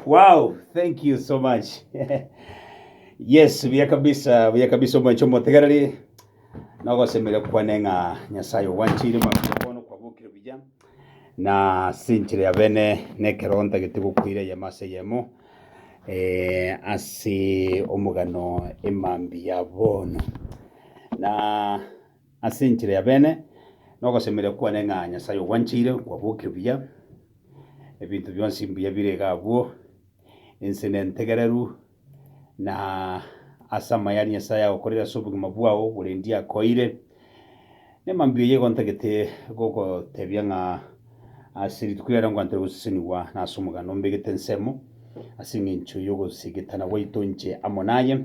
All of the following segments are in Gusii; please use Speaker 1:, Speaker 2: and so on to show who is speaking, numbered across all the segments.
Speaker 1: Wow, thank you so much. yes, buya kabisa, buya kabisa omwencho motegereri. Nogosemere kwane ng'a Nyasaye ogwanchire mabisa bono kwabokire buya. Na ase enchera ya bene nekeronda getigokoira eyemo ase eyemo ase omogano emambia ya bono. Na ase enchera ya bene nogosemeria kwane ng'a Nyasae ogwancheire, nkwabokia buya, ebinto bionsi mbuya bire iga abwo, ense nentegereru. na ase amaye aria Nyasae agokorere ase obogima bwao borendia akoeire. Nemambia oyo igo ntagete gogotebia ng'a ase rituko riaria nkwantere gosesenigwa na ase omoganda ombegete ensemo ase engencho y'ogosegetana gwaito inche amo naye,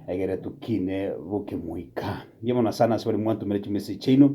Speaker 1: egere tokine bokemoika. Nigo bono asana ase baria mwantomere chimessage chiaino,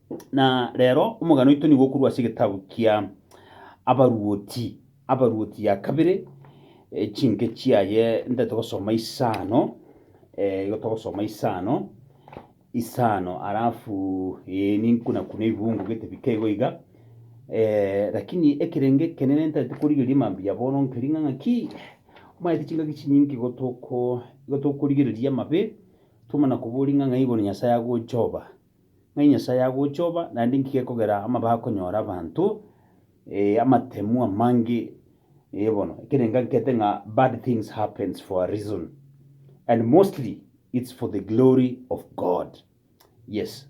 Speaker 1: Na rero omogano oito nigo okorwa ase egetabu kia Abaruoti, Abaruoti ya kabere, eh, chinke chiaye ntaete gosoma isano, eh, igo togosoma isano, isano alafu eh, ninkunakune ebibungo gete bike igo iga, eh, lakini ekerenge ekenene ntaete korigereria mambia bono nkeri ng'a ng'aki, omanyete chingaki chinyinge igo toko igo tokorigereria amabe, twamana koboria ng'a ng'ai bono Nyasaye agocha oba, Ng'ai Nyasae agochoba, naende inki gekogera amabe akonyora abanto, eh, amatemu amange, eh, bono, ekero engankete ng'a bad things happens for a reason, and mostly it's for the glory of God. Yes,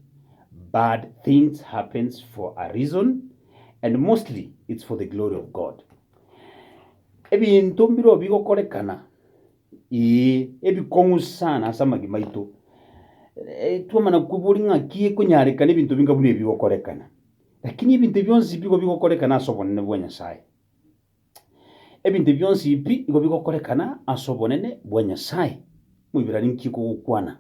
Speaker 1: bad things happens for a reason, and mostly it's for the glory of God. Ebinto mbirobio bigokorekana, Ee, ebikong'u sana ase amagima aito. Eh, twamana kweboria ng'aki ekonyarekana ebinto binga buna ebi bigokorekana. Lakini ebinto ebi bionsi bigo bigokorekana ase obonene bwa Nyasae. Ebinto ebi bionsi ebi igo bigokorekana ase obonene bwa Nyasae. Moibrani nki ekogokwana?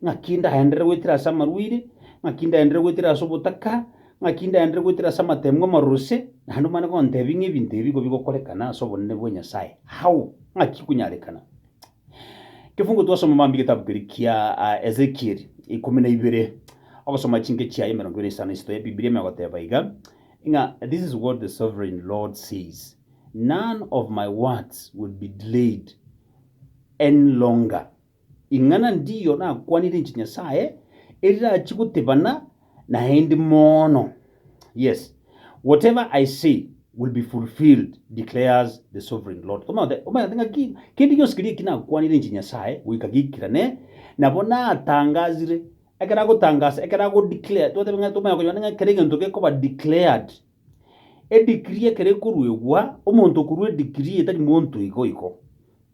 Speaker 1: ng'aki ndaendere goetera ase amarwaire, ng'aki ndaendere goetera ase obotaka, ng'aki ndaendere goetera ase amateemwa amaruse, naende omanye gontebia ng'a ebinto ebi nigo bigokorekana ase obonene bwa Nyasae. How? Ng'aki konyarekana? Ekefungo twasoma mambia egetabu keria kia Ezekieli ikomi na ibere, ogosoma chinke chiaye emerongo ebere na isano na isato Ebibilia ime egoteba iga, ng'a this is what the sovereign Lord says, None of my words will be delayed any longer. Ing'ana ndiyo nakwanire inche Nyasae, erirachi gotebana naende mono. Yes, whatever I say will be fulfilled, declares the Sovereign Lord. Omaete, omaete ng'aki? Kende gionsi keria eki nakwanire inche Nyasae goika giikerane, nabo natangazire, ekero agotangasa, ekero ago-declare, twateba ng'a tomanya konyora ng'a kera egento gekoba declared, Edigrii ekero ekoruegwa, omonto okorua edigrii etari monto igo igo,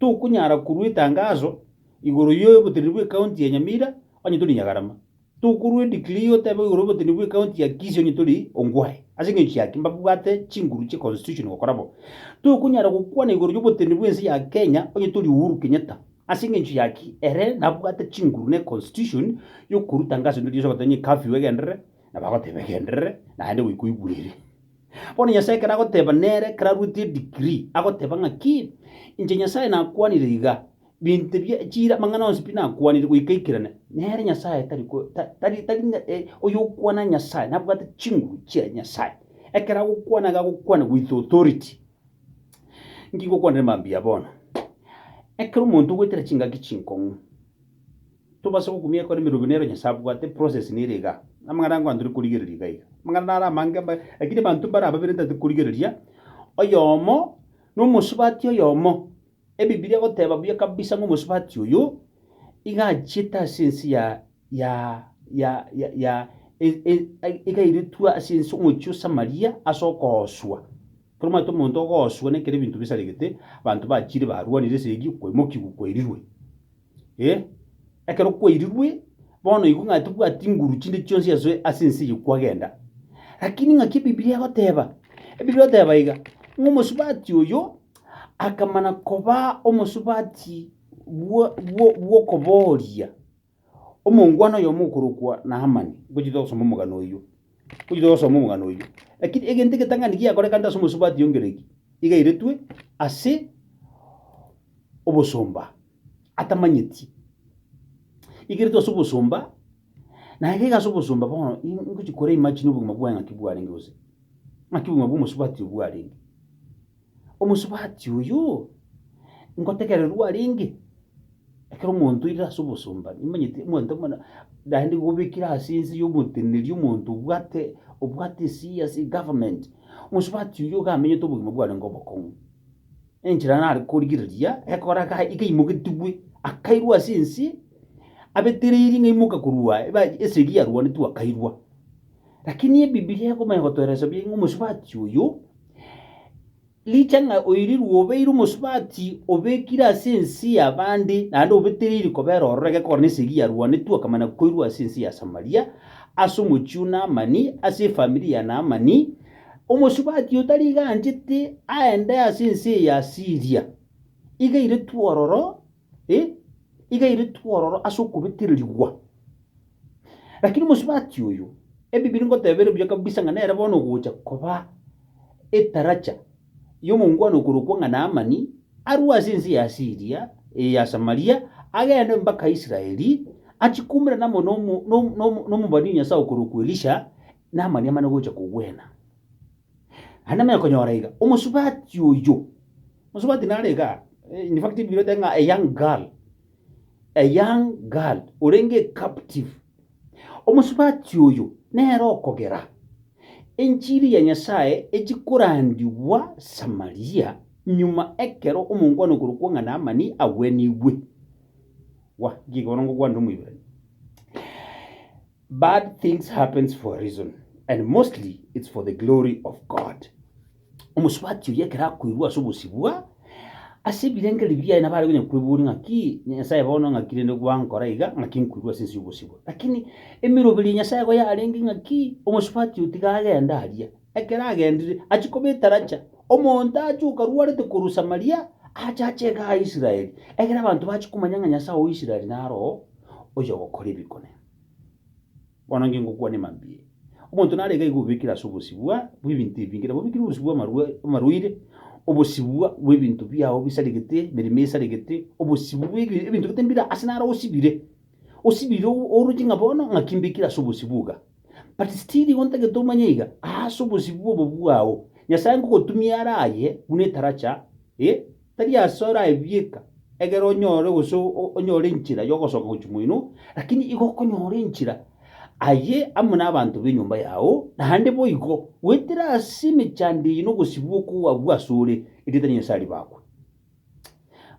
Speaker 1: tokonyara korua etangaso igoro y'oboteneneri bw'ecounty ya Nyamira onye tori Nyagarama, tokorua edigrii otebe igoro y'oboteneneri bw'ecounty ya Kisii onye tori Ongwae, ase engencho ya ki? Mbabwate chinguru chie constitution gokora bo. Tokonyara gokwana igoro y'oboteneneri bw'ense ya Kenya onye tori Uhuru Kenyatta, ase engencho ya ki? Ere nabwate chinguru na econstitution y'okorua tangaso ndiri yonsi ogoteba ng'a curfew egenderere, na bagoteba, Egenderere, naende goika oigurere. Bono Nyasae ekero agoteba nere ekero arwete edegree, agoteba ng'aki, Inche Nyasae nakwanire iga, binto bie chira amang'ana onsi pi nakwanire goika aikirane, nere Nyasae tari ko ta tari tari ng'a e, oyokwana Nyasae nabwate chinguru chia Nyasae. Ekero agokwana iga agokwana with authority. Inki ngokwanera mambia bono? Ekero omonto ogoetera chingaki chinkong'u. Tobasa gokumia ekero emerogo nero Nyasae abwate, process nere iga. Amang'ana ango antari korigereria iga iga. Amang'ana naro amange ambaye, lakini abanto mbare ababere ntari korigereria, oyomo nomosubati oyomo, Ebibilia egoteba buya kabisa ng'a omosubati oyo iga achiete ase ense ya ya ya ya ya iga airetwe ase ense omochie o Samaria ase okooswa. Ekero omanyete omonto ogooswa nekero ebinto bisaregete, abanto bachire barwanire esegi, kwaimokigwa kwairirwe. eh, ekero kwairirwe, bono igo ng'a tobwati nguru chinde chionsi ase ase ense eye kwagenda. Lakini ng'aki Ebibilia egoteba? Ebibilia egoteba iga, ng'a omosubati oyo akamana koba omosubati bwo bwo bw'okobooria, omongwana oyomo okorokwa Naamani. Ngochia togosoma omogano oyio. Ochi togosoma omogano oyio. Lakini egento egetang'ani giakorekanete ase omosubati oingereki igairetwe ase obosomba atamanyeti. Igairetwe ase obosomba, naye gaiga ase obosomba bono ingochi kore imagine obogima bwaye ng'aki bwarenge gose ng'aki obogima bwa omosubati oyo bwarenge. Omosubati oyo ngotegererwa arenge, ekero omonto oirire ase obosomba, nimonyete omonto buna naende gobekire ase ense y'omoteneneri omonto obwate obwate esii ase egovernment, omosubati oyo iga amenyete obogima bwarenge obokong'u. Enchera nare korigereria ekora ga iga aimoketigwe, akairwa ase ense, abetereiri ng'a aimoke korwa eba esegi yarwanetwe akairwa. Lakini Ebibilia ekomanya gotoereresia buya ng'a omosubati oyo, richang'a oirirwe obeire omosubati obekire ase ense y'abande, naende obetereiri kobera ororo egekogera na esegi yarwanetwe akamanya koirwa ase ense ya Samaria, ase omochie o Naamani, ase efamiri ya Naamani, omosubati oyo tari iga anchete aende ase ense ya Asiria. Iga airetwe ororo ee, igairetwe ororo ase okobetererigwa. Lakini mosubati oyo, Ebibiri ngotebera obuya kabisa ng'a nere bono ogocha koba etaracha y'omongwana okorokwa ng'a Naamani, arue ase ense ya Siria, ee, ya Samaria, agende mpaka Israeli, achie koumerana amo nomo- nomo- nomo- nomobani o Nyasae okorokwa Elisha, Naamani amane gocha kogwena. Naende namenye konyora iga, omosubati oyio, omosubati nare igaa, in fact Bibilia etebete ng'a a young girl, a young girl orenge captive. Omosubati oyo nere okogera enchiri ya Nyasaye echi korandigwa Samaria, nyuma ekero omonkwana okorokwa ng'a Naamani agwenigwe. Wa, nki bono ngokwanire Omoibrania? Bad things happens for a reason and mostly it's for the glory of God. Omosubati oyio ekero akoirwa ase obosibwa ase ebirengererio biaye nabo are konya kweboria ng'aki Nyasaye bono ng'aki rende gwankora iga ng'aki nkoirwa ase ense y'obosibwa. Lakini emiroberi ya Nyasaye igo yarenge ng'aki omosubati oyio tiga agende aria. Ekero agendire achia kobeta racha. Omonto ache okarwarete korwa Samaria ache ache igaa Israeli ekero abanto bachia komanya ng'a Nyasaye o Israeli naro oyogokora ebikone. Bono inche ngokwania mambia, omonto narenge iga obekire ase obosibwa bw'ebinto ebinge, nabo obekire obosibwa bw'amarwa- bw'amarwaire, obosibwa bw'ebinto biao bisaregete, emeremo esaregete, obosibwa bw'ebi- ebinto gete mbire ase naro osibire, osibire o- oroche ng'a bono ng'aki mbekire ase obosibwa iga. But still igo ntagete omanye iga, aase obosibwa obo bwao, Nyasae ngogotumia aro aye buna etaracha, eh, Tari ase oraebieka egere onyore gose onyore enchera y'ogosoka gochia moino, lakini igo okonyora enchera aye amo nabanto b'enyomba yao, naende boigo goetera ase emechando eye nobosibwa okwo abwo asore, erieta ria Nyasaye ribakwe.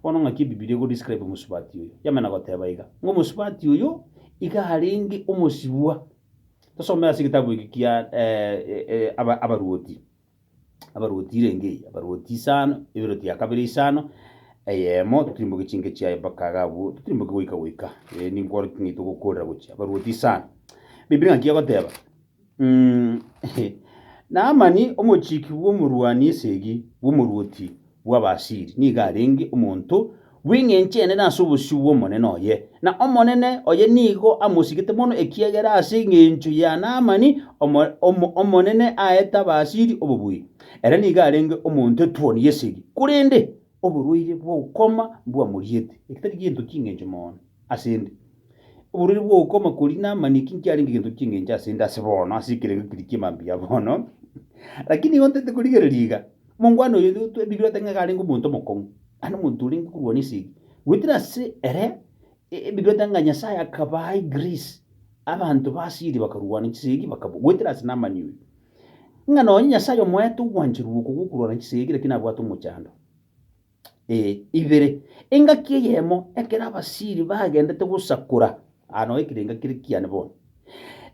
Speaker 1: Bono ng'aki Ebibilia ego describe omosubati oyo? Yamana goteba iga, ng'a omosubati oyo iga arenge omosibwa. Tosome ase egetabu eke kia Abaruoti. abarwoti irenge eye, abarwoti isano, eberoti ya kabere isano, eyemo, totirimboke chinke chiaye mpaka iga abwo, totirimboke goika goika, ee, ninkore ng'ai togokorera gochia, abarwoti isano. Bibilia ngaki egoteba, mm, Naamani, omochiki bw'omorwani esegi bw'omorwoti, bw'Abaasiri nigo arenge omonto bw'engencho enene ase obosio bw'omonene oye, na omonene oye nigo amosigete mono, ekiagera ase engencho ya Naamani Omonene aete Abaasiri obobuya. Ere nigo arenge omonto etuoni y'esegi, korende oborwaire bw'ukoma mbwamoriete. Oborwaire bw'ukoma koria Naamani eki nkiarenge egento ki'engencho ase 'nde ase bono, ase ekerengo keria ki'emambia bono, lakini nigo ntaete korigereria iga. Omongwana oyo bigwete ng'a iga arenge omonto omokong'u, naende omonto orenge korwa nesegi. Goetera ase ere bigwete ng'a Nyasae akabaa egrisi, abanto ba Asiri bakarwana chisegi bakabua. Goetera ase Namani oyo, ng'a nonye Nyasae omoete ogwancherwa oko gw'okorwana chisegi, lakini abwate omochando. ee, ibere, engaki eyemo ekero abasiiri bagendete gosakora. Aa noo ekero engaki ere kiane bono.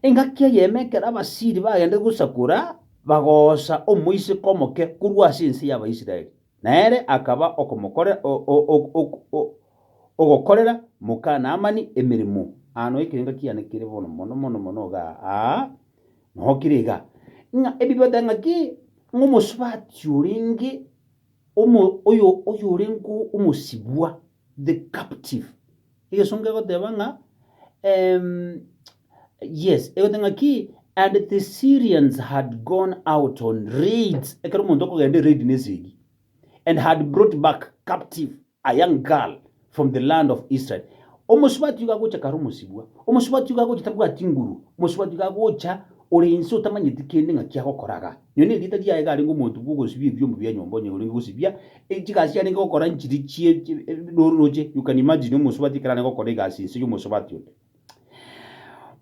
Speaker 1: Engaki eyemo ekero abasiiri bagendete gosakora, bagoosa omoiseke omoke korwa ase ense y'Abaisraeli, na ere akaba okomokore o- o- o- ok- o- ogokorera moka Naamani emeremo. Aa noo ekero engaki yane kere bono mono mono mono iga aa, noo kere iga, ng'a ebibatang'aki ng'omosubaati orenge. Omo, oyo, oyo orenge omosibwa, the captive. Egesongo egoteba ng'a, em, yes, egoteba ng'a ki, and the Syrians had gone out on raids, ekero omonto okogenda eraid nesegi, and had brought back captive. A young girl from the land of Israel, omosubati iga agocha kare omosibwa, omosubati iga agocha tabwati nguru, omosubati iga agocha ore inse otamanyeti kende ng'aki agokora iga. Nyonia erieta riaye iga arenge omonto bw'ogosibia ebiombo bia nyomba onye orenge gosibia chigasi arenge gokora nchiri chie roche you can imagine omosubati ekero arenge gokora egasi inse y'omosubati onde.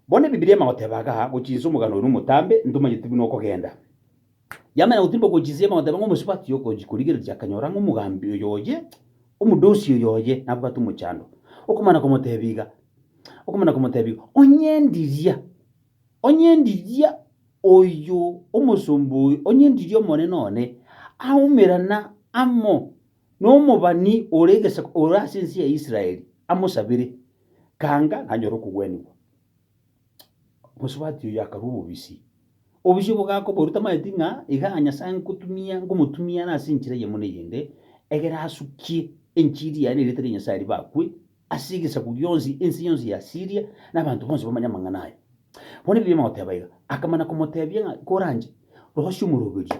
Speaker 1: Bono ebibilia emagoteba iga, gocha inse omogano oye nomotambe, ntomanyeti buna okogenda. Yamanya gotirimba okochisia ime, agoteba ng'a omosubati okochia korigereria akanyora ng'a omogambi oyoye, omodosi oyoye, nabwate omochando. Okomana komotebia iga, okomana komotebia iga, Onyendiria, onyendiria oyo omosomba oyo, onyendiria omonene one, aumerana amo nomobani ore egesaku ore ase ense ya Israeli, amosabere, kanga nanyore okogwenigwa. Omosubati oyio akarua obobisi. Obobisi obwo gakoborua tamanyeti ng'a iga Nyasae ngotumia ngomotumia ere ase enchera eyemo na eyende, egere asukie enchiri yaye na erieta ria Nyasae ribe akwe ase egesaku gionsi, ense yonsi ya Asiria, na abanto bonsi bamanye amang'ana aye. Bono ebibe bigoteba iga, akamana komotebia ng'a koranche, rosia omoroberio,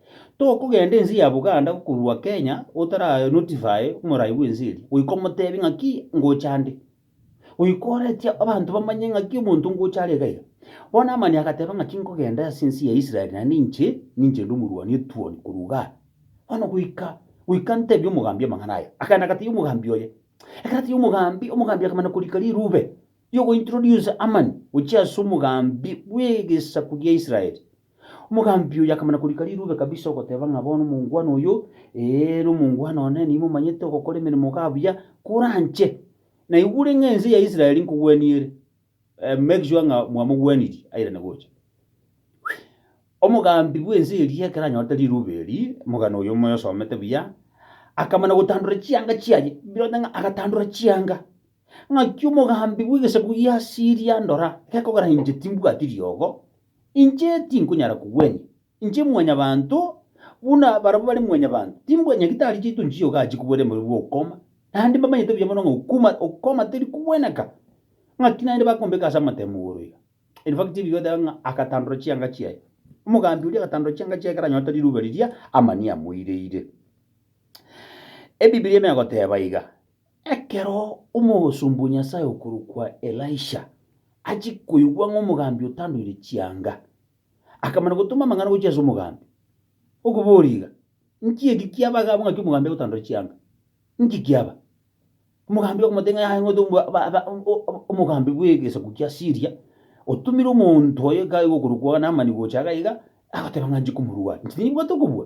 Speaker 1: Tokogenda ense ya Buganda gokorua Kenya otara notify omorai bw'ense eria. Goika omotebie ng'aki ngocha ande. Goika oretie abanto bamanye ng'aki omonto ngocha are iga iga. Bono Naamani agateba ng'aki nkogenda ase ense ya Israel naende inche ninche inde omorwani otuoni korwa igaa. Bono goika goika ntebie omogambi amang'ana aya. Akaenda agatebia omogambi oye. Ekero atebia omogambi, omogambi akamana korika rirube. y'ogointroducer Amani gochia ase omogambi bw'egesaku gia Israeli. Omogambi oyo akamana korika rirube kabisa ogoteba ng'a bono omongwana oyo, ee, nomongwana one, nigo momanyete ogokora emeremo iga buya kore anche. Naigure ng'a ense ya Israeli nkogwenia ere. Eh, make sure ng'a mwamogwenirie airane gocha. Omogambi bw'ense eria ekero anyorete rirube eri, omogano oyo moyosomete buya, akamana gotandora chianga chiaye. Birote ng'a agatandora chianga. Ng'aki omogambi bw'egesaku gi'Asiria andora, gekogera inche timbwati riogo, inche tinkonyara kogwenia, inche mwanyabanto buna barabwo bare mwanyabanto, timbwati nyagitari chiaito nchiche iga achie kobwata emerero bw'okoma, naende mbamanyete buya mono ng'a okoma okoma teri kogweneka. Ng'aki naende bakombeka ase amatemo igoro iga. In fact, Biblia egoteba ng'a agatandora chianga chiaye. Omogambi oria agatandora chianga chiaye ekero anyorete riruube riria, amani amoireire. Ebibiri ime egoteba iga. Ekero omosomba o Nyasae okorokwa Elisha achia koigwa ng'a omogambi otandoire chianga, akamana gotoma amang'ana gochia ase omogambi, okoboria iga, Inki eki kiaba iga abwo ng'aki omogambi agotandore chianga? Inki kiaba? Omogambi okomotebia ng'a yaye ng'ote omo- aba- aba- o- o- o- omogambi bw'egesaku kia Siria, otomire omonto oyo iga iga okorokwa Naamani gocha iga iga, agoteba ng'a inche komorwai, inche tinyebwate okobua.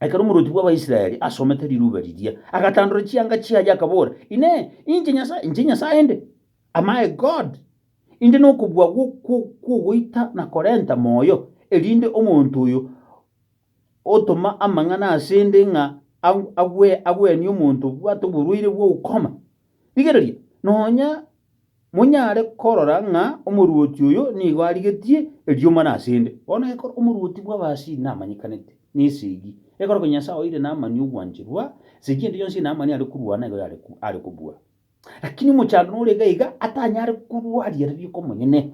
Speaker 1: Ekero omorwoti bw'Abaisraeli asomete riruube riria, agatandora chianga chiaye, akabora, Inee! Inche Nyasae? Inche Nyasae inde? Am I God? Inde nokobua kw'ogoita na korenta moyo, erinde omonto oyo otoma amang'ana ase 'nde ng'a agwenie omonto obwate oborwaire bwa ukoma? Rigereria, nonya monyare korora ng'a omorwoti oyo nigo arigetie erio mana ase 'nde. Bono ekero omorwoti bw'abasii namanyekanete, na esegi, ekero konya Nyasae oeire namani ogwancherwa, esegi ende yonsi ere namani are korwana igo yare are kobua. Lakini omochando nore iga iga atanyare korwaria riiko omonyene.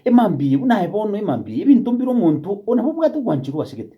Speaker 1: Emambia eye buna aye bono emambia eye, ebinto mbire omonto onabobwate ogwancherwa asegete.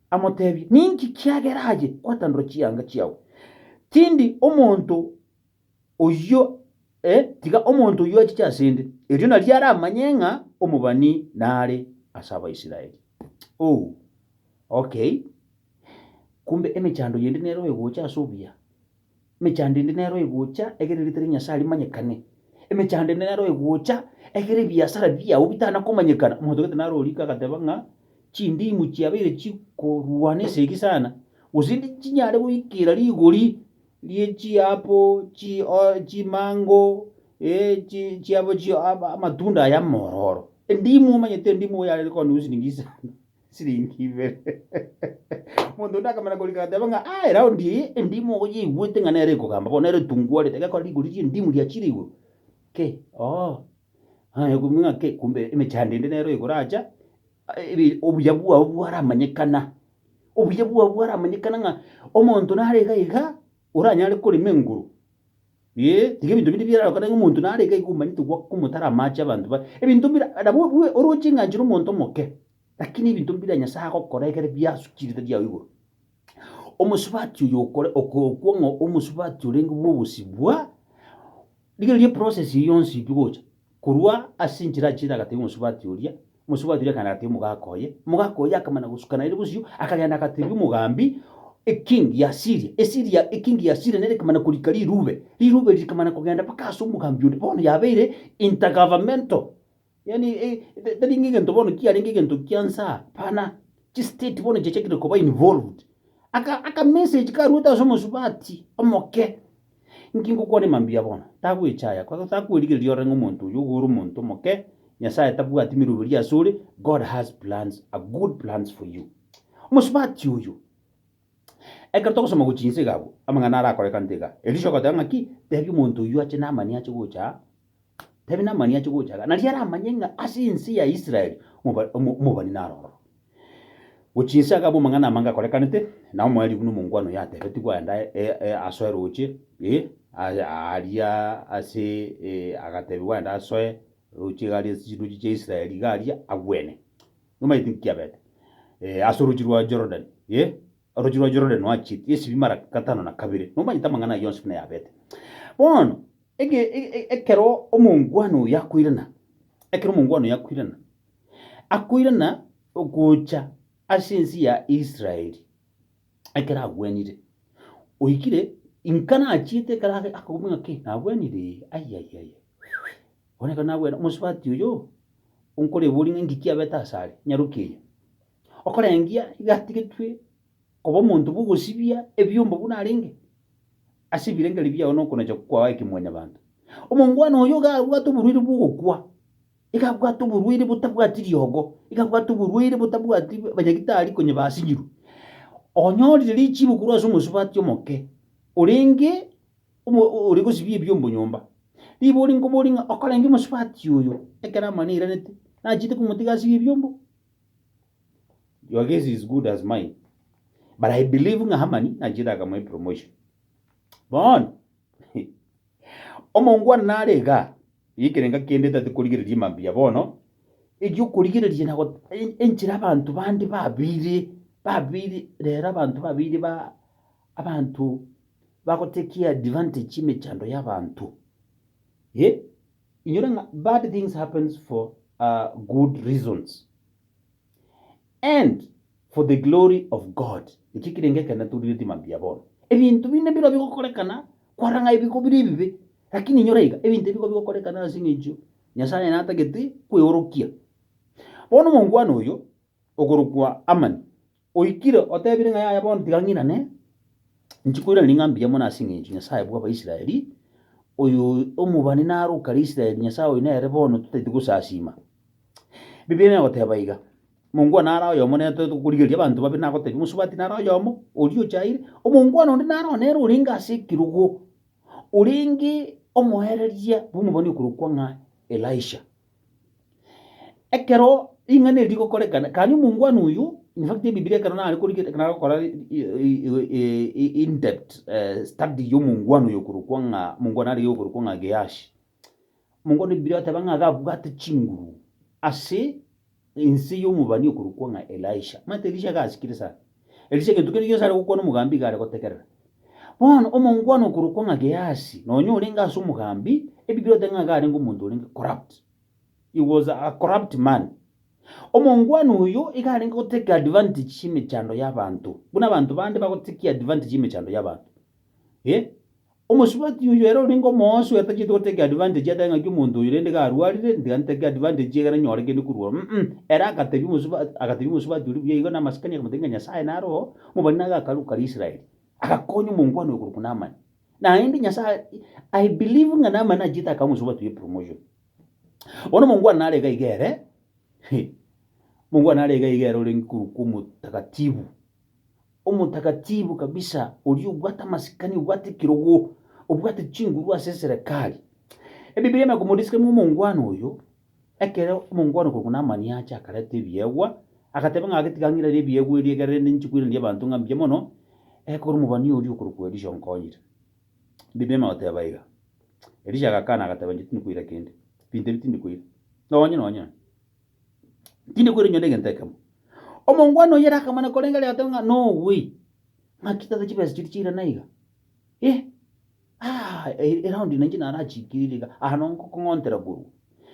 Speaker 1: amoteebie, Ninki kiagera aye gwatandora chianga chiao? Tindi omonto oyio, ee, tiga omonto oyio achiche ase 'nde, erio nario aramanye ng'a omobani nare ase Abaisraeli. Oh, okay. Kumbe emechando yende nere oegocha ase obuya? Emechando ende nero egocha egere erieta ria Nyasae rimanyekane. Emechando ende nero egocha egere ebiasara biao bitana komanyekana. Omonto gete naro orike agateba ng'a chindimu chiabeire chikorwana esegi sana, gose ndi chinyare goikera rigori rie chiapo chi o chimango ee chi chiapo chi ama amatunda aya amororo. Endimu omanyete endimu igo yarenge konywa silingi isano. siringi ibere. Omonto onde akamanya korika agateba ng'a ah eraundi eye endimu oyeigwete ng'a nere ekogamba bono nere etungwarete egekora rigori ri'endimu riachire igoro ki ooh onye okomwia ng'a ki kumbe emechando ende nere oigoro acha ebi- obuya bwao bwaramanyekana obuya bwao bwaramanyekana ng'a omonto nare iga iga oranyare korema enguru Ee, tiga ebinto binde biarare gokora ng'a omonto nare iga iga omanyete goaka omotaro amache abanto baye. Ebinto mbira, nabo bwe oroche eng'ancho na omonto omoke, lakini ebinto mbira Nyasae agokora ekero biasukire ritari yao igoro. Omosubati oyo okore okokwa ng'a omosubati orenge bw'obosibwa, rigereria eprocess eye yonsi pi gocha, Korwa ase enchera achiete agatebia omosubati oria, omosubati oria akaenda agatebia omogaka oye, omogaka oye akamanya gosukana ere bosio, akagenda agatebia omogambi, Eking ya Siria, Esiria, eking ya Siria nere ekamana korika rirube, rirube eri rikamana kogenda mpaka ase omogambi onde, bono yabeire intergovernmental, yaani tari ng'a egento bono kiarenge egento kia nsa, hapana, chistate bono chiachakire koba involved. Aka akamessage karuete ase omosubati omoke, Inki ngokwane mambia bono? Tagwecha aya kwa gose akwerigereria ore ng'a omonto oyo ogo ore omonto omoke, Nyasae tabwati emeroberio ase ore, God has plans, a good plans for you. Omosubati oyo, ekero togosoma gochia inse iga abwo, amang'ana arakorekante iga, Elisha ogoteba ng'aki? Tebia omonto oyio ache Naamani ache gocha aa. tabe namani ache gocha iga, nario aramanye ng'a ase ense ya Israel omoba- omo- omobani naro ororo. Gochia inse agaba amang'ana amange akorekanete, na omoerio buna omongwana oyo atebetigwe aende ae- e- e- asoe roche, eh, aye aaria ase eh, agatebiwa aende asoe roche iga aria ase chinduchi chia Israel iga aria, agwene. Nomanyete inki kiabete? Eh, ase orochi rwa Jordan, eh, orochi rwa Jordan noachieti esibi mara gatano na kabere. Nomanyete amang'ana ayio onsi buna yabete. Bono. Ekero omongwana oyo akoirana, ekero omongwana oyo akoirana, akoirana gocha ase ense ya Israeli, ekero agwenire, oikire, inka nachiete ekero ake akagwa ng'a ki? Nagwenire ee, ai ai ai ai, bono ekero nagwene omosubati oyo, onkorebori ng'a inki kiabete asare, nyaroki eye, okorengia iga atigetwe. Koba omonto bw'ogosibia ebiombo buna arenge ase ebirengeri biao nokonacha kwao aye kemwanyabanto. Omongwana oyo iga abwate oborwaire bw'ogokwa, iga abwate oborwaire botabwati riogo, iga abwate oborwaire botabwati abanyagitari konya basinyirwe. Onyorire richiibo korwa ase omosubati omoke, orenge omo- o- ore gosibia ebiombo nyomba. Ribori nkoborie ng'a okorenge omosubati oyo ekero amani eiranete, nachiete komotiga asibie ebiombo? Your guess is good as mine. But I believe ng'a Hamani nachire akamoa epromotion. Bono, omongwana nare iga, ekerenga kende tati korigereria mambia bono, ekio korigereria na got- en- enchera abanto bande babere, babere, rero abanto babere ba, abanto bagotekia advantage emechando y'abanto. Eh? Inyora ng'a bad things happens for a good reasons and for the glory of God. Ekio kirenge ekero naturiretie mambia bono. Ebinto binde biro bigokorekana kwara ng'a ebigo bire ebibe, lakini inyora iga ebinto ebigo bigokorekana ase eng'encho Nyasaye natagete kweorokia. Bono omongwana oyo okorokwa Amani Oikire otebire ng'a yaya bono tiga ng'inane, inche nkoiraneria ng'a mbuya mono ase eng'encho Nyasae bw'Abaisraeli, oyo omobani naro o kare Israeli, Nyasae oyo nere bono totaeti gosasiima. Bibilia negoteba iga, Omongwana ara oyomo nere totaeti gokorigereria abanto babe, nagotebia omosubati nare oyomo, oria ochaire, omongwana onde naro nere orenge ase ekerogo, orenge omoereria bw'omobani okorokwa ng'a Elisha. Ekero ring'ana eri rigokorekana, kanya omongwana oyio, in fact ebibilia ekero nare kori ekero nare gokora in-depth study ya omongwana oyo okorokwa ng'a omongwana arege okorokwa ng'a Gehashi, omongwana ebibilia egateba ng'a gabwate chinguru ase Ense y'omobani okorokwa ng'a Elisha. Omanyete Elisha gasikire sana. Elisha egento kende gionsi are gokwana omogambi iga are gotegerera. Bono omongwana okorokwa ng'a Gehasi, nonya orenge ase omogambi, Ebibiri oteba ng'a iga arenge omonto orenge corrupt. He was a corrupt man. Omongwana oyo iga arenge gotake advantage y'emechando y'abanto. Buna abanto bande bagotakia advantage y'emechando y'abanto. Eh? Omosubati oyio ere orenge omoosi oyatachete gotake advantage ateba ng'aki omonto oyo rende garwarire ntiga ntake advantage ye ekero nyore kende korwa ororo mm ere agatebia omosubati agatebia omosubati oria buya igo na amasikani akamotebia ng'a Nyasaye nare oo mobani na agakaru karia Israeli agakonya omongwana oyo korokwa Namani naende Nyasaye I believe ng'a Namani nachete akae omosubati oyo epromotion bono omongwana nare iga iga ere omongwana nare iga iga ere orenge korokwa omotakatibu. Omotakatibu kabisa, oria obwate amasikani, obwate ekerogo, obwate chinguru ase eserekari. Ebibiria biane bikomoriska ng'a omongwana oyo, ekero omongwana korokwa Namani acha akareta ebiegwa, agateba ng'a gatiga ng'irere ebiegwa ebi ekero rende ninche koiraneria abanto ng'a mbuya mono, ekero omobani oria okorokwa Elisha onkonyire. Ebibiria bigoteba iga. Elisha agakana agateba, Inche tindi koira kende. Binto ebi tindi koira. Nonya nonya. Tindi kwerigwa negento ekemo. Omongwana oyio ere akamana korenga ere agateba ng'a nogwe. Ng'aki tata chibesa chiria chiira naiga? Eh, ah, e- eraundi nainche narachikirire iga, aha nongokong'ontera korwa.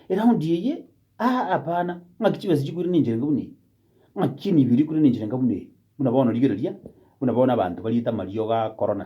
Speaker 1: Eraundi eye, ah, hapana, ng'aki chibesa chikwire ninche iga buna ebi? Ng'aki emibiri ekwire ninche iga buna ebi? Buna bono rigereria, buna bono abanto bariete amariogo a korona.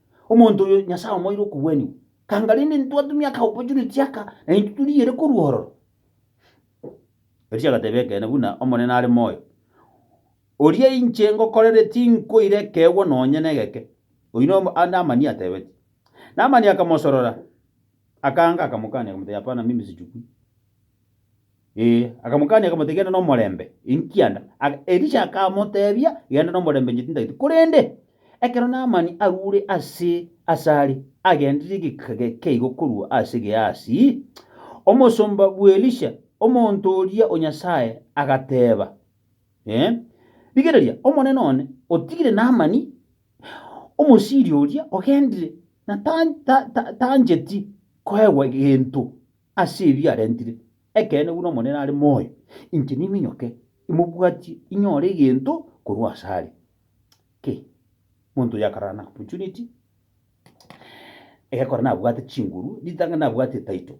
Speaker 1: Omonto oyo Nyasae omoeire okogwenigwa, kanga rende ntwatumia akaopportunity aka, na intwe torigeire korwa ororo. Elija agateba, Ekeene, buna Omonene are moyo, oria inche ngokorere tinkoira ekeegwa nonye negeke. Oyio noyo Naamani atebetie. Naamani akamosorora, akaanga, akamokania, akamotebia, Hapana, mimi sichukui. Ee, akamokania, akamoteebia, Genda nomorembe, enkianda ag. Elisha akamoteebia, Genda nomorembe, inche tintagete. Korende ekero Naamani arure ase asare, agenderire egeka gekeigo korwa ase Gehasi, omosomba bw'Elisha, omonto oria o Nyasae, agateeba, Ee, rigereria, omonene one otigire Naamani, Omosiria oria ogendire, na ta, ta, ta, tancheti koegwa gento. ase ebi arentire. Ekeene buna Omonene are moyo, inche niminyoke imobwatie inyore egento korwa ase are. Ki? Monto oyo akarara na opportunity, egekora nabwate chinguru, ritang'ani nabwate etitle.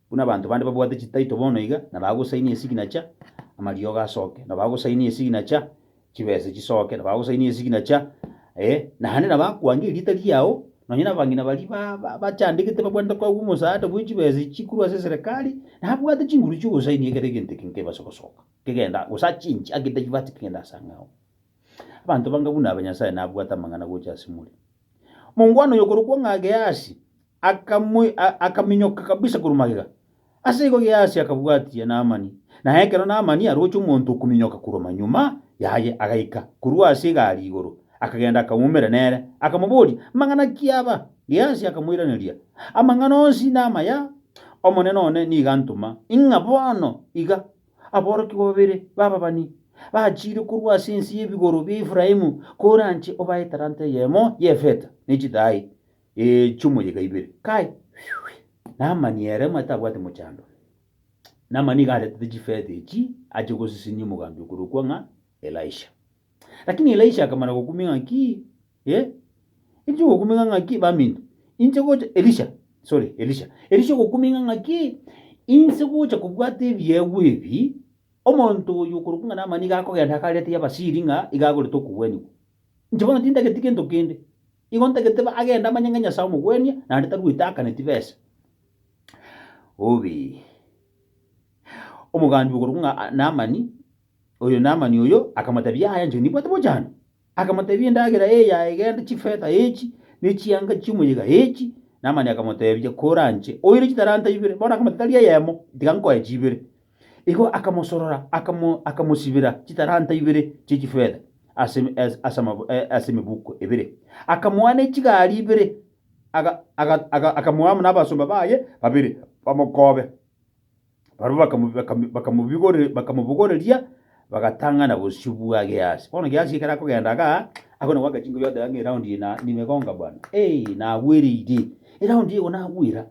Speaker 1: Buna abanto bande babwate chititle bono iga, nabo agosign esignature, amariogo asoke, nabo agosign esignature, chibese chisoke, na bagosainia esignature, eh, naende na bakwange erieta riao, nonye nabang'ina baria ba- ba- bachandegete babwanete koegwa omosaada bwe chibese echi korwa ase eserekari, nabwate chinguru chi'ogosainia ekero egento eke nkebase gosoka, kegenda, gose achenchi ake tachibaati kogenda ase ang'e ao. Abanto bange buna aba Nyasae nabwate amang'ana gocha ase more. Omongwana oyo okorokwa ng'a Geasi, akaminyoka kabisa korwa magega. Ase igo Gehazi akabwatia Naamani, na ekero Naamani aroche omonto okominyoka korwa manyuma yaye, agaika korwa ase egari igoro, akagenda akaumera nere, akamoboria, Mang'ana ki aba? Gehazi akamoiraneria, Amang'ana onsi namaya, omonene one nigo antoma, ing'a bono iga aborokigwa babere b'ababani bachiire korwa ase ense y'ebigoro bia Efraimu, koranche obae etalanta eyemo y'efeta ne chidai. Echumo ye kaibere. Kai! Namani ere omanyete abwate mochando. Namani nigo aretete chifeta echi ache gosisinia omogambi okorokwa ng'a Elisha. Lakini Elisha akamana gokumia ng'a ki? Eh? Elisha ogokumia ng'a ki? Baminto. Inche gocha Elisha. Sorry, Elisha. Elisha ogokumia ng'a ki? Inse gocha kobwata ebiegwa ebi, omonto oyo okorokwa ng'a Namani iga akogenda akarete y'Abasiri ng'a iga agorete okogwenigwa. Inche bono tintageti gento kende, igo ntagete agende amanye ng'a Nyasae omogwenia, naende taruete akane tibesa. Bobe. Omogambi okorokwa ng'a Naamani, oyo Naamani oyo akamoteebia, Yaya, inche nibwate bochando. Akamoteebia, Endagera eye yaegenda, chifeta echi, ne chianga chi'omoyega echi. Naamani akamoteebia, Kora inche oire chitalanta ibere. Bono akamoteebia, Tari eyemo, tiga nkoe chibere. Igo akamosorora, akamo, akamosibera chitalanta ibere chie chifeta ase, as- ase, amabu- eh, ase emebuko ebere, akamoa ne chigari ibere, aga, aga, aga, akamoa amo nabasomba baye babere bamokobe. Barabwo bakamu- bakamu- bakamobigore- bakamobogoreria, bagatang'ana bosio bwa Gehasi. Bono Gehasi ekero akogenda igaa, agwo nabo agachingwa yoteba ng'a eraundi eye na- nimegonga bwana, eeh, nagwereire, eraundi eye igo nagwera.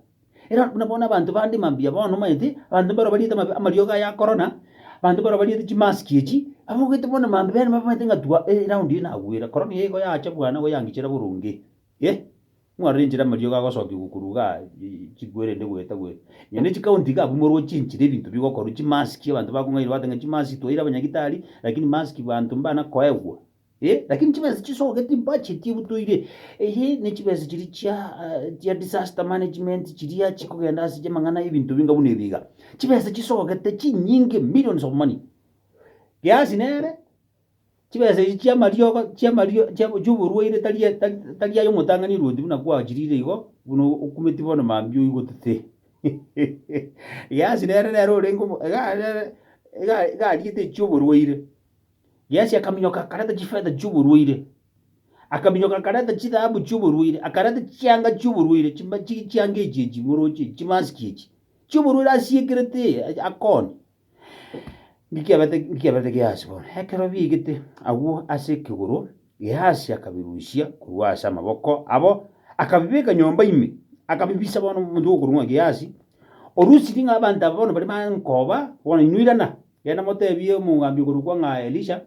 Speaker 1: Era'd buna bono abanto bande mambia bono omanyete, abanto mbaro bariete amabe amariogo aya akorona, abanto mbaro bariete chimask echi, abogete bono mambe bene bamanyete ng'a tua e eround eye nagwere, korona eye igo yacha bwana igo yangichera boronge eh, mwarore enchera amariogo agosokiwa korwa iga aa chigwere ende goeta goeta. Onye ne chikaunti iga abwo morwe ochie enchera ebinto bigokorwa, chimask abanto bakong'aini bagotebi ng'a chimask twaire abanyagitari, rakini mask abanto mbana koegwa, Ee, lakini chibesa chisoge timpache tibutoire. Eye ne chibesa chiri chia eh, chia disaster management chiria chikogenda ase chemang'ana ebinto binga buna ebiga. Chibesa chisogete chinyinge millions of money. Kiasi nere chibesa echi chia mariogo chia mario chia choborwaire tari tari tari ayo motang'ani rwoti buna kwachirire igo buna okumeti bono mambia oigotete. Kiasi nere nere orenge omo- iga nere iga iga ariete chioborwaire. Geazi akaminyoka akareta chifeta chi'oborwaire, akaminyoka akareta chithahabu chi'oborwaire, akareta chianga chi'oborwaire, chima- chi- chianga echi echi moroche echi, chimasiki echi chi'oborwaire asiekerete eh, akone. Nki kiabete nki kiaberete Geazi bono? Ekero biaigete agwo ase ekegoro, Geazi akabirusia korwa ase amaboko abo, akabibeka nyomba ime, akabibisa bono omonto okorwa ng'a Geazi, orusirie ng'a abanto aba bono baria baare nkoba, bono inwe irana. Genda motebie omogambi okorokwa ng'a Elisha,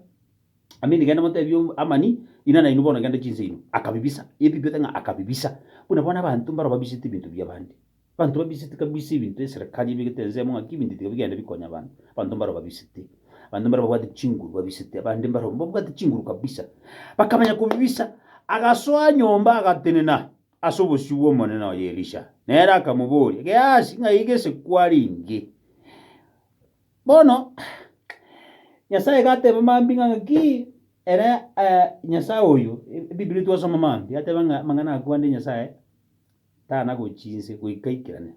Speaker 1: Amini, genda motebie Amani, Ina nainwe bono genda chinse inwe. Akabibisa. Ebibete ng'a akabibisa. Buna bono abanto mbaro babisete ebinto bi'abande. Abanto babisete kabisa ebinto eserekari ebegete ensemo ng'aki ebinto tiga bigende bikonya abanto. Abanto mbaro babisete. Abanto mbare babwate chinguru babisete. Abande mbaro babwate chinguru kabisa. Bakamanya kobibisa. Agasoa nyomba agatenena ase obosio bw'Omonene oye Elisha. Nere akamoboria, Geasi, ng'ai gese kwariinge? Bono Nyasae gateba mambia ng'a ng'aki ere Nyasae oyo, Ebiburi twasoma mambia, gateba ng'a amang'ana aa kwande Nyasae tanagochi inse goika aikerane.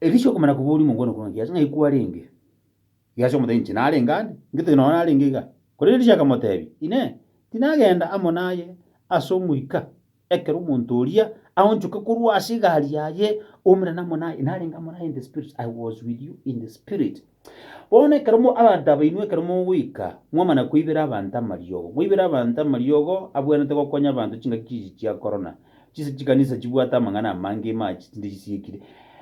Speaker 1: Elisha okomanya koboria omongwana korwa ng'a ng'ai kwarenge? Geazi akamotebia inche narenge ande, ngetogia nonye narenge iga. Korende Elisha akamotebia, Inee! Tinagenda amo naye ase omoika? Ekero omonto oria aonchoke korwa ase egari yaye, oumire namo naye, narenge amo naye in the spirit, I was with you in the spirit. Bono ekero mo, abanto aba inwe ekero mogoika, mwamana koibera abanto amariogo, moibere abanto amariogo abwenerete gokonya abanto chingaki chiichi chia korona, chinse chikanisa chibwate amang'ana amange ime achi chinde chisiekire.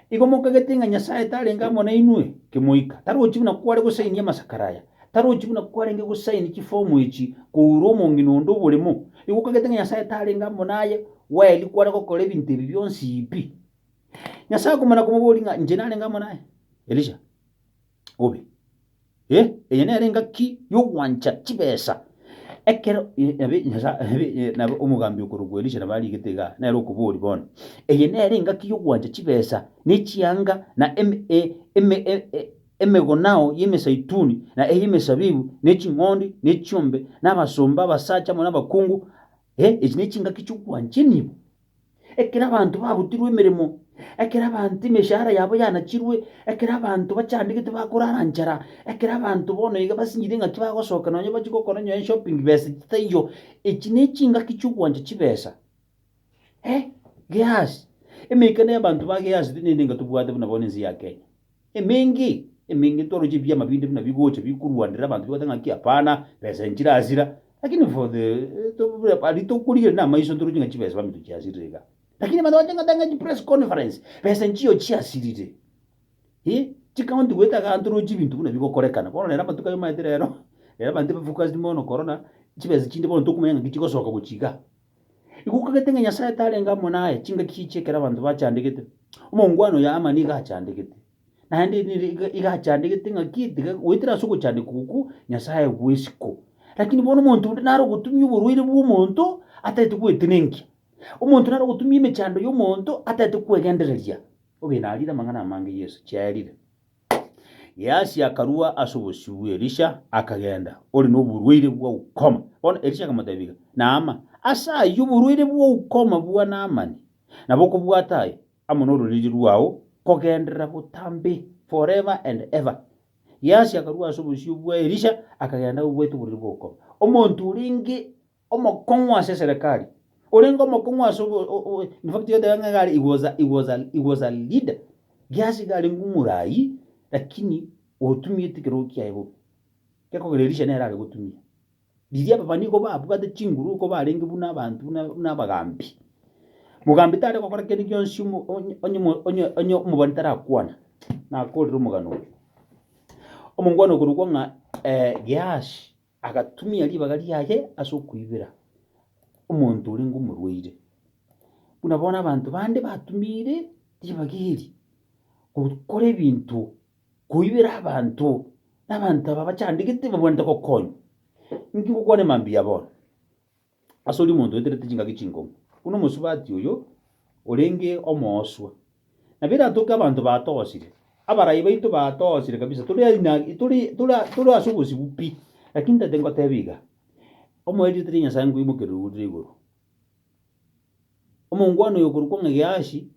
Speaker 1: Igo mokagete ng'a Nyasaye tarenge amo nainwe, kemoika, tarochi buna kware gosainia amasakara aya. Tarochi buna kwarenge gosaini chifomu echi kourwa omong'ina onde oboremo, igo okagete ng'a Nyasae tarenge amo naye, Waeli kware gokora ebinto ebi bionsi pi. Nyasae akomana komoboria ng'a Inche narenge amo naye? Elisha, Obe. Eh, eye nere engaki y'ogwancha chibesa. Ekero nabi Nyasae nabo omogambi okorokwa Elisha nabo arigete igaa, nere okoboria bono, Eye nere engaki y'ogwancha chibesa, ne chianga, na eme, e, eme, e, e, Emegonao y'emesaituni, na ey'emesabibu, ne ching'ondi, ne chiombe, na abasomba, abasacha amo nabakungu, eh, echi nechingaki chi'ogwancheniwa. Ekero abanto babutirwe emeremo, ekero abanto emeshahara yabo yanachirwe, ekero abanto bachandegete bakorara nchara, ekero abanto bono iga basinyire ng'aki bagosoka nonya bachie gokora nonya eshopping besa chitaiyo, echi nechingaki chi'ogwancha chibesa. Eh, Gehazi! Emeikano y'abanto ba Gehazi teri naende enga tobwate buna bono ense ya Kenya. Emengi, emengi etwarwachire pi amabinda buna bigocha bikorwanera abanto bigoteba ng'aki hapana, besa nchirasira, lakini for the aria tokorigera namaiso ntoroche ng'a chibesa baminto chiasirire iga. Lakini abanto bagocha ngoteba ng'a chipress conference, besa nchiyo chiasirire. Ee, chicounty goeta igaa ntoroche ebinto buna bigokorekana. Bono rero amatuko ayo omaete rero, rero abanto tiba focused mono korora chibesa chinde bono tokomanya ng'aki chigosoka gochia igaa. Igo okagete ng'a Nyasae tarenge amo naye, chingaki chichia ekero abanto bachandegete, omongwana oyo Aamani iga achandegete. Naende nere iga iga achandegete ng'a ki tiga goetera ase ogochandeka okwo kwo Nyasae bw'esiko. Lakini bono omonto onde nare ogotumia oborwaire bw'omonto ataete gwetenenkia, omonto nare ogotumia emechando y'omonto ataete kwegendereria. Obe narire amang'ana amange Yeso chiaerire. Geasi akarua ase obosio bw'Elisha, akagenda, ore noborwaire bwa ukoma. Bono Elisha akamotebia, Naama, ase ayio oborwaire bwa ukoma bwa Naamani, na bokobwata aye, amo nororiri rwao, kogenderera botambe forever and ever. Geasi akarua ase obosio bwa Elisha, akagenda agobwaete oborwaire bwa ukoma. Omonto orenge Omokong'u ase eserekari, orenge omokong'u ase obo, o- o- in fact iga tebare ng'a iga are, he was a, he was a, he was a leader. Gihasi iga arenge omoraai, lakini otumiete ekerogo kiaye bobe. Gekogera Elisha nere are gotumia. Riria ababani igo babwate chinguru oko barenge buna abanto buna buna abagambi, mogambi tare gokora kende gionsi omo onye onye mo onye onye omobani tarakwana, nakorire omogano oyo. Omongwana okorokwa ng'a Gihasi. Agatumia ribaga riaye ase okoibera omonto orenge omorwaire, buna bono abanto bande batumiire ribaga eri gokora ebinto koibera abanto, na abanto aba bachandegete babwenerete gokonywa. Inki gokwana emambia bono? ase oria omonto oeterete chingaki chinkong'u, buna omosubati oyo orenge omooswa. Nabo eratoke abanto baatoosire, abarai baito baatoosire kabisa, tore aina tore tore tore ase obosibwa pi, lakini ntagete ngoteba iga, omoerio tari Nyasae nkoimokerere orure igoro. Omongwana oyo okorokwa ng'a Geazi,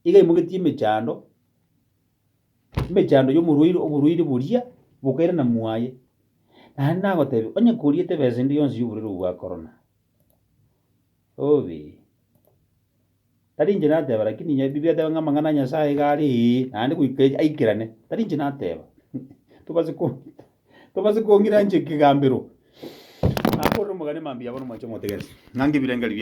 Speaker 1: iga aimogetie emechando. emechando y'omorwaire oborwaire boria bokaira na mwaye. Naende nagotebia, onye koriete ebesa ende yonsi y'oborwaire obwo bwa korona, obe. Tari inche nateba, rakini inye Biblia eteba ng'a amang'ana a Nyasaye iga are, ee, naende goika erio aikerane. Tari inche nateba, tobase ko tobase kong'ira inche ekegambero. Nakorire omogani mambia abwo na omwancha omotegereri, ng'a ngebirengerio biao.